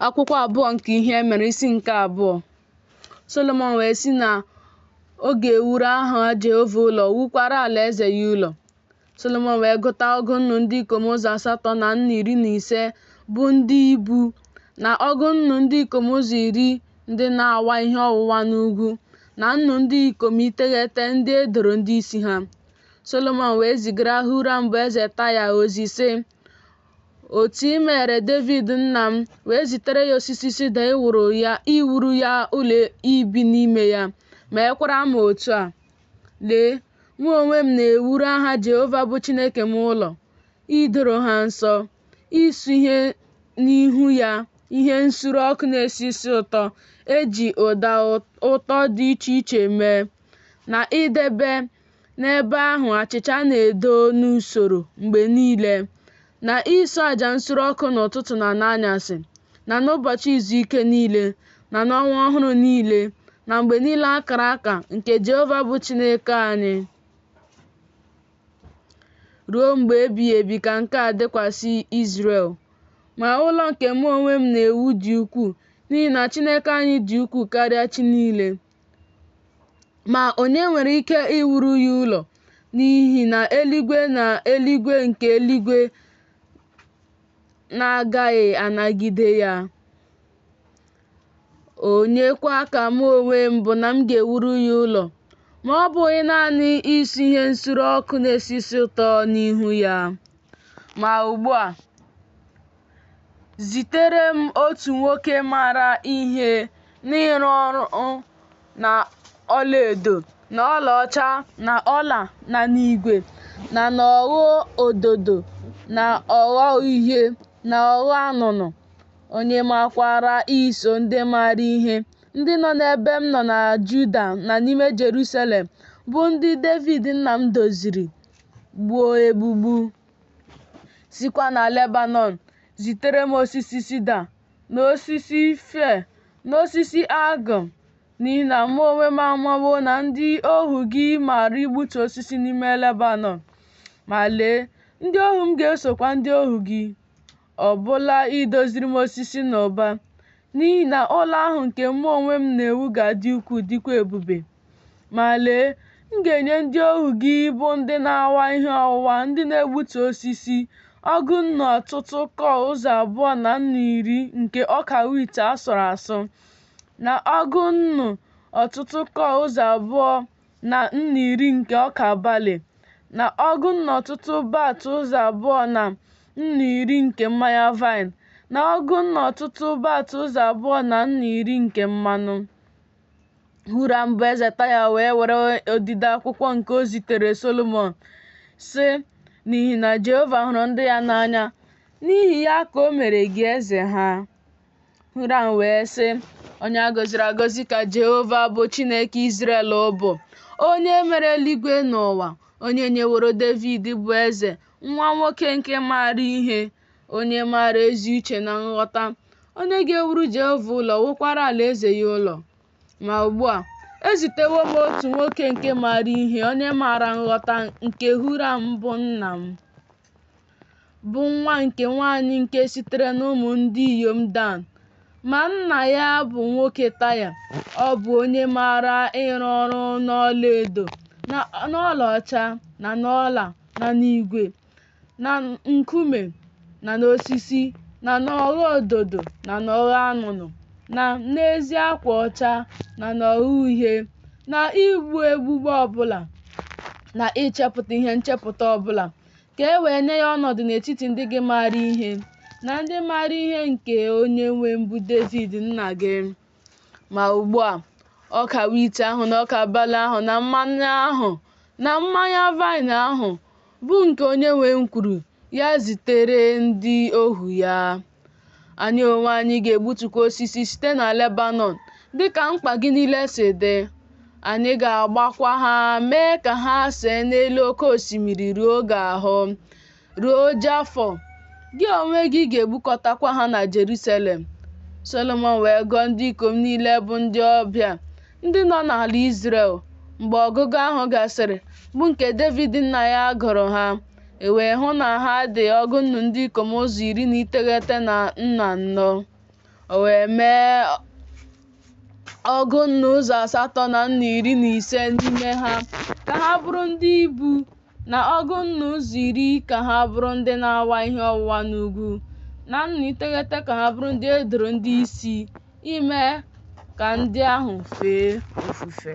Akwụkwọ abụọ nke ihe e mere isi nke abụọ Solomọn wee sị na ọ ga-ewuru aha Jehova ụlọ wukwara alaeze ya ụlọ. Solomọn wee gụta ọgụ nnụ ndị ikom ụzọ asatọ na nnụ iri na ise bụ ndị ibu na ọgụ nnụ ndị ikom ụzọ iri ndị na-awa ihe ọwụwa n'ugwu na nnụ ndị ikom iteghete ndị e doro ndị isi ha. Solomọn wee zigara Huram bụ eze Taya ozi, sị, otu i mere Devid nna m wee zitere ya osisi sida iwuru ya ụlọ ibi n'ime ya meekwara m otu a lee mụ onwe m na-ewuru aha Jehova bụ Chineke m ụlọ idoro ha nsọ isure n'ihu ya ihe nsure ọkụ na-esi isi ụtọ e ji ụda ụtọ dị iche iche mee na idebe N'ebe ahụ achịcha a na-edo n'usoro mgbe niile, na isu aja nsure ọkụ n'ụtụtụ na n'anyasị, na n'ụbọchị izu ike niile, na n'ọnwa ọhụrụ niile, na mgbe niile a kara aka nke Jehova bụ Chineke anyị. Ruo mgbe ebighị ebi ka nke a dịkwasị Izrel. Ma ụlọ nke mụ onwe m na-ewu dị ukwuu, n'ihi na Chineke anyị dị ukwuu karịa chi niile. Ma onye nwere ike iwuru ya ụlọ? N'ihi na eluigwe na eluigwe nke eluigwe na-agaghị anagide ya. Onye kwa ka mụ onwe m bụ na m ga-ewuru ya ụlọ? Ma ọ bụghị naanị isu ihe nsure ọkụ na-esi isi ụtọ n'ihu ya. Ma ugbu a, zitere m otu nwoke maara ihe n'ịrụ ọrụ na ọlaedo na ọlaọcha na ọla na n'igwe na n'ogho ododo na ogho uhie na ogho anụnụ onye makwaara iso ndị maara ihe ndị nọ n'ebe m nọ na Juda na n'ime Jerusalem bụ ndị Devid nna m doziri gbuo egbugbu. sikwa na Lebanọn zitere m osisi sida na osisi fir na osisi algum n'ihi na mụ onwe m amawo na ndị ohu gị maara igbutu osisi n'ime Lebanọn. Ma lee, ndị ohu m ga-esokwa ndị ohu gị. ọ bụla idoziri m osisi n'ụba, n'ihi na ụlọ ahụ nke mụ onwe m na-ewu ga-adị ukwuu dịkwa ebube. Ma lee, m ga-enye ndị ohu gị bụ ndị na-awa ihe ọwụwa, ndị na-egbutu osisi, ọgụ nnụ ọtụtụ kọọ ụzọ abụọ na nnụ iri nke ọka wit a sụrụ asụ, na ọgụ nnụ ọtụtụ kọọ ụzọ abụọ na nnu iri nke ọka bali, na ọgụ nnu ọtụtụ bat ụzọ abụọ na nnu iri nke mmanya vaịn, na ọgụ nnu ọtụtụ bat ụzọ abụọ na nnu iri nke mmanụ. Huram bụ eze Taya wee were odide akwụkwọ nke o zitere Solomọn, sị, N'ihi na Jehova hụrụ ndị ya n'anya, n'ihi ya ka o mere gị eze ha. Huram wee sị, Onye a gọziri agọzi ka Jehova bụ Chineke Izrel bụ, onye mere eluigwe na ụwa, onye nyeworo Devid bụ eze, nwa nwoke nke maara ihe, onye maara ezi uche na nghọta, onye ga-ewuru Jehova ụlọ, wukwara alaeze ya ụlọ. Ma ugbu a, ezitewo m otu nwoke nke maara ihe, onye maara nghọta nke Huram bụ nna m. bụ nwa nke nwanyị nke sitere n'ụmụ ndị inyom Dan. Ma nna ya bụ nwoke Taya, ọ bụ onye maara ịrụ ọrụ n'ọlaedo, n'ọlaọcha, na n'ọla, na n'igwe, na nkume, na n'osisi, na n'ogho ododo, na n'ogho anụnụ. na n'ezi akwa ọcha na n'ogho uhie na igbu egbugbu ọbụla na ichepụta ihe nchepụta ọbụla ka e wee nye ya ọnọdụ n'etiti ndị gị maara ihe na ndị maara ihe nke onye nwe m bụ Devid nna gị ma ugbu a ọka wit ahụ na ọka bali ahụ na mmanụ ahụ na mmanya vaịn ahụ bụ nke onye nwe m kwuru ya zitere ndị ohu ya. Anyị onwe anyị ga-egbutukwa osisi site na Lebanọn dị ka mkpa gị niile si dị. Anyị ga-agbakwa ha mee ka ha see n'elu oke osimiri ruo gị ahụ, ruo Jafọ. Gị onwe gị ga-egbukọtakwa ha na Jerusalem. Solomọn wee gụọ ndị ikom niile bụ ndị ọbịa ndị nọ n'ala Izrel mgbe ọgụgụ ahụ gasịrị bụ nke Devid nna ya gụrụ ha e wee hụ na ha dị ọgụ nnu ndị ikom ụzọ iri na iteghete na nnu anọ o wee mee ọgụ nnu ụzọ asatọ na nnu iri na ise n'ime ha ka ha bụrụ ndị ibu na ọgụ nnu ụzọ iri ka ha bụrụ ndị na-awa ihe ọwụwa n'ugwu na nnu iteghete ka ha bụrụ ndị e doro ndị isi ime ka ndị ahụ fee ofufe